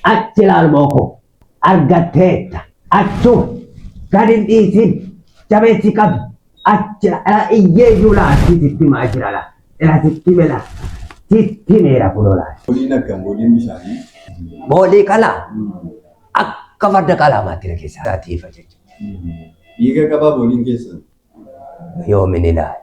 Achi ilaalmoo koo argatteetta. Achuma gad hin dhiisin. Jabeessi qabi. Achi ila iyyee iyyuu laa si sitti himaa jira laa. Ila sitti hime laa. Sitti himeera kunoo laa. Booliin akkam booliin bishaanii? Boolii qala akka farda qalaamaatti na keessaa tiifa jechuudha. Dhiiga qabaa booliin keessan? Yoomin ilaali.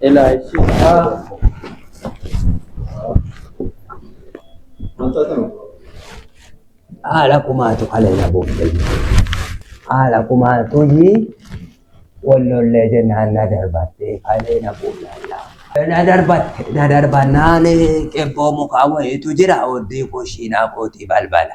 Elaa ishi. Haala kumaatu haleela buufte. Haala kumaatu iyyii wal lollee jennaan na darbatte kalee na buufte. Na darbatte na darbannaan qebboo mukaa wayiitu jira oddii koshiinaa kootii balbala.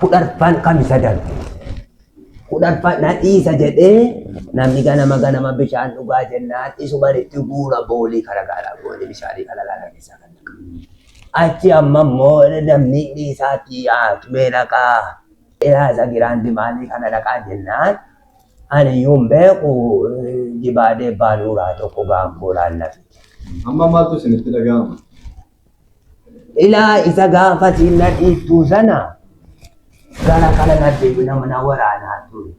kudharfaan kamisa darbe kudharfaan na dhiisa jedhee namni ganama ganama bishaan dhugaa jennaan isuman itti guura boolii kara gaaraa boolii bishaanii kana laala keessaa kan dhaqa. Achi amma immoo namni dhiisaatti yaa'atu mee dhaqaa ilaasa giraandi maalii kana dhaqaa jennaan ani iyyuu hin beeku jibaadee baanuuraa tokko gaangoo laallatu. Amma maaltu isinitti dhaga'ama? Ilaa isa gaafa siin na dhiittuu sana gara kana na deebina mana waraanaa ture.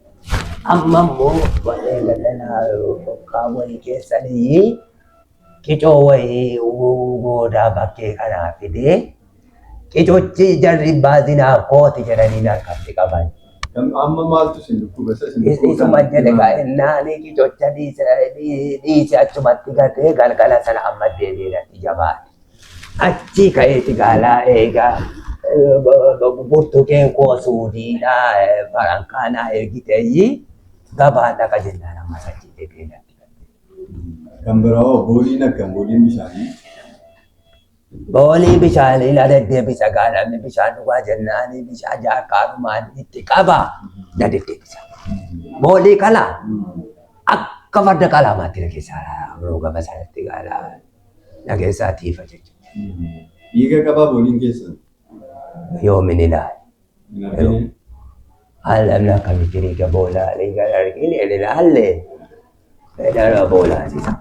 Amma immoo warreen gadanaa fokkaa wayii keessanii qicoo wayii goodaa bakkee kanaa fidee qicochi jarri baazinaaf kooti jedhanii narkatti qaban. Amma maaltu isin dhukkuba? Isa isin dhukkuba Isuma kana jedhe himaa. kaa'innaani gicocha dhiise dhiise achumatti gatee galgala sana amma deebi'ee natti jabaate. Achii ka'eeti gaalaa eegaa eh, b- b- burtukeen koo suudiidha eh, farankaa naa ergiteeyyi gabaa dhaqa jennaan ammas achii deebi'ee natti gatee. Kan biraa hoo booliin akkam booliin bishaanii? Boolii bishaanii na deddeebisa gaa namni bishaan dhugaa jennaan bishaan jaarkaanumaan itti qaba na deddeebisa. Boolii kana akka farda qalaamaatti na keessaa yeroo gama sanatti gaala na keessaa tiifa jechuudha. Dhiiga qabaa booliin keessan. Yoomin ilaali. Yeroo haalannaa kan jirii gaboolaa liigan argin ililaalle fedhara boolaasisa.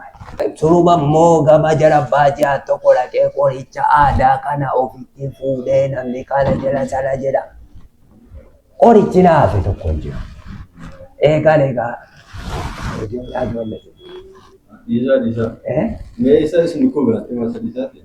Suruba immoo gama jara baajaa tokko dhaqee qoricha aadaa kana ofitti fuudhee namni kana jira sana jedha. Qorichi naafe tokko hin jiru. Eegaan egaa ijoollee ijoollee. Dhiisaa dhiisaa. Eh? Mee isa isin dhukkuba biraatti maasa dhiisaati?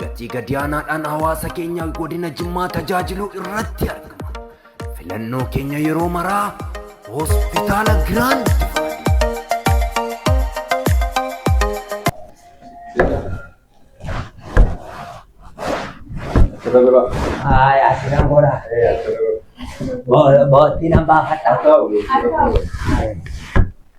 gatii gadi aanaadhaan hawaasa keenya godina Jimmaa tajaajiluu irratti argama. Filannoo keenya yeroo maraa hospitaala Giraand Ay, así no mora. Bo- Botti nan baafadha.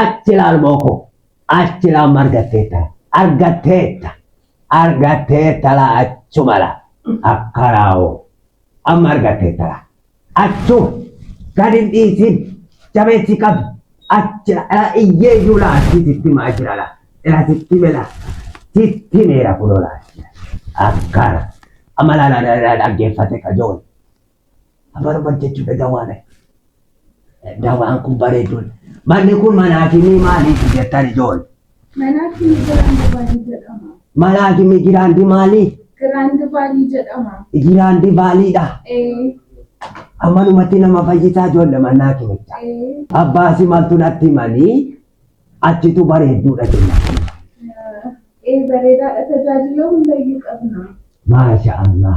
Achi laal mooko. Achi laal margatteetta. Argatteetta. Argatteetta laa achuma laa. Akka raawoo. Amma argatteetta laa. Attu gad hin dhiisin jabeessi qabi achi ala iyyee iyyuu laa achi sitti hima achi ala ila sitti hime laa sitti himeera kunoo laa achi akkana amma laa laa laa dhaggeeffate kajoon afaan uffat jechuudha dawaan dawaan kun bareeduun manni kun manaa fi ni maaliif jettan ijoon Malaaki Migiraandi Vaalii jedhama. Malaaki Migiraandi maali? Giraandi Vaalii jedhama. Giraandi Vaaliidha. Ee, Manumatti nama fayyisaa ijoollee mannaa kimicha. ee, Abbaasi maltu natti himanii achitu bareedduudha jenna. ee bareedaadha tajaajila hundayyuu qabna. Maasha Allah.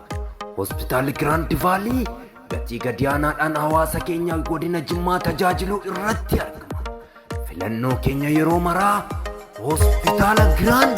Hospitaalli Giraand Vaalii gatii gadi aanaadhaan hawaasa keenya godina Jimmaa tajaajiluu irratti argama. Filannoo keenya yeroo maraa Hospitaala Giraand